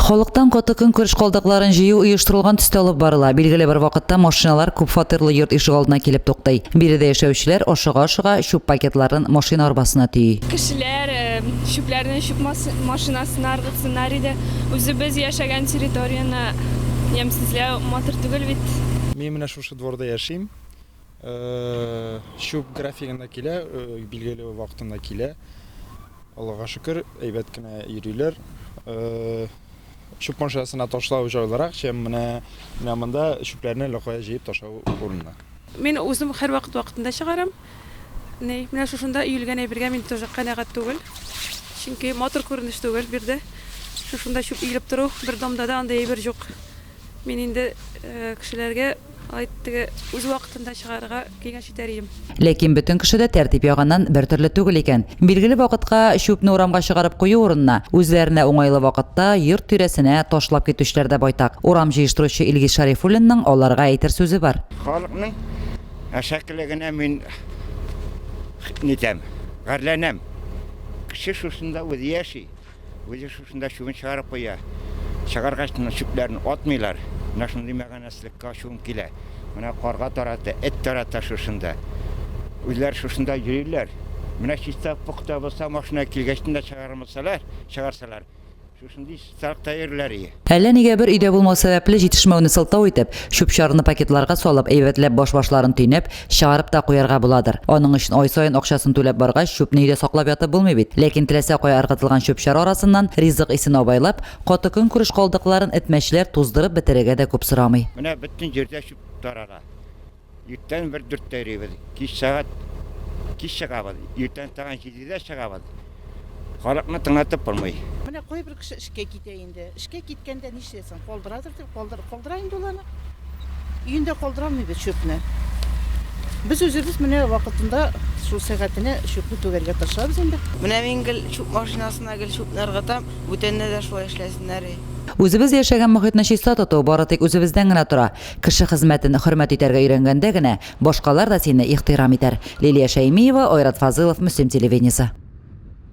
Халыктан каты көнкүреш калдыкларын җыю оештырылган төстә алып барыла. Билгеле бер вакытта машиналар күп фатирлы йорт ишегалдына килеп туктый. Биредә яшәүчеләр, ашыга-ашыга, чүп пакетларын машина арбасына төйи. Кешеләр чүпләрне чүп машинасына ыргытсыннар иде. Үзебез яшәгән территорияне ямьсезләү матур түгел бит. Мин менә шушы дворда яшим. Чүп графигында килә, билгеле вакытында килә. Аллага шөкер, әйбәт кенә йөриләр. Чүп машинасына ташлау җайлырак, чем менә менә монда чүпләрне локая җыеп ташлау урынына. Мин үзем һәрвакыт вакытында чыгарам. Ни, менә шушында өелгән әйбергә мин тоже канәгать түгел. Чөнки матур күренеш түгел бирде. Шушында чүп өелеп тору, бер домда да андый әйбер җук. Мин инде кешеләргә алай теге үз вакытында чыгарырга киңәш итәр идем. Ләкин бөтен кеше дә тәртип ягыннан бертөрле түгел икән. Билгеле вакытка чүпне урамга чыгарып кую урынына, үзләренә уңайлы вакытта йорт тирәсенә ташлап китүчеләр дә байтак. Урам җыештыручы Илгиз Шарифуллинның аларга әйтер сүзе бар. Халыкның әшәкелегенә мин нитәм, гарьләнәм. Кеше шушында үзе яши. Үзе шушында чүбен чыгарып куя. Чыгаргач, менә чүпләрен атмыйлар. Менә шундый мәганәсезлеккә ачуым килә. Менә карга тарата, эт тарата шушында. Үзләре шушында йөриләр. Менә чиста пөхтә булса, машина килгәчтен дә чыгармасалар, чыгарсалар, шушындый чисталыкта йөриләр. Әллә нигә бер өйдә булмау сәбәпле җитешмәүне сылтау итеп, чүп-чарны пакетларга салып, әйбәтләп баш-башларын төйнәп, чыгарып та куярга буладыр. Аның өчен ай саен акчасын түләп баргач, чүпне өйдә саклап ятып булмый бит. Ләкин теләсә кая ыргытылган чүп-чар арасыннан ризык исен абайлап, каты көнкүреш калдыкларын этмәчләр туздырып бетерергә дә күп сорамый. Менә бөтен җирдә чүп тарала. Иртән бер дүрттә йөрибез, кич сәгать кич чыгабыз, иртән тагын җидедә чыгабыз. Халыкны тыңлатып булмый. Менә кайбер кеше эшкә китә инде. Эшкә киткәндә нишләсен? Калдырадыр дип калдыр, калдыра инде ул аны. Өендә калдыра алмыйбыз чүпне. Без үзебез менә вакытында шул сәгатенә чүпне түгәргә тырышабыз инде. Менә мин гел чүп машинасына гел чүпне ыргытам, бүтәннәр дә шулай эшләсеннәр. Үзебез яшәгән мохитне чиста тоту бары тик үзебездән генә тора. Кеше хезмәтен хөрмәт итәргә өйрәнгәндә генә башкалар да сине ихтирам итәр. Лилия Шәймиева, Айрат Фазылов, Мөслим телевидениесе.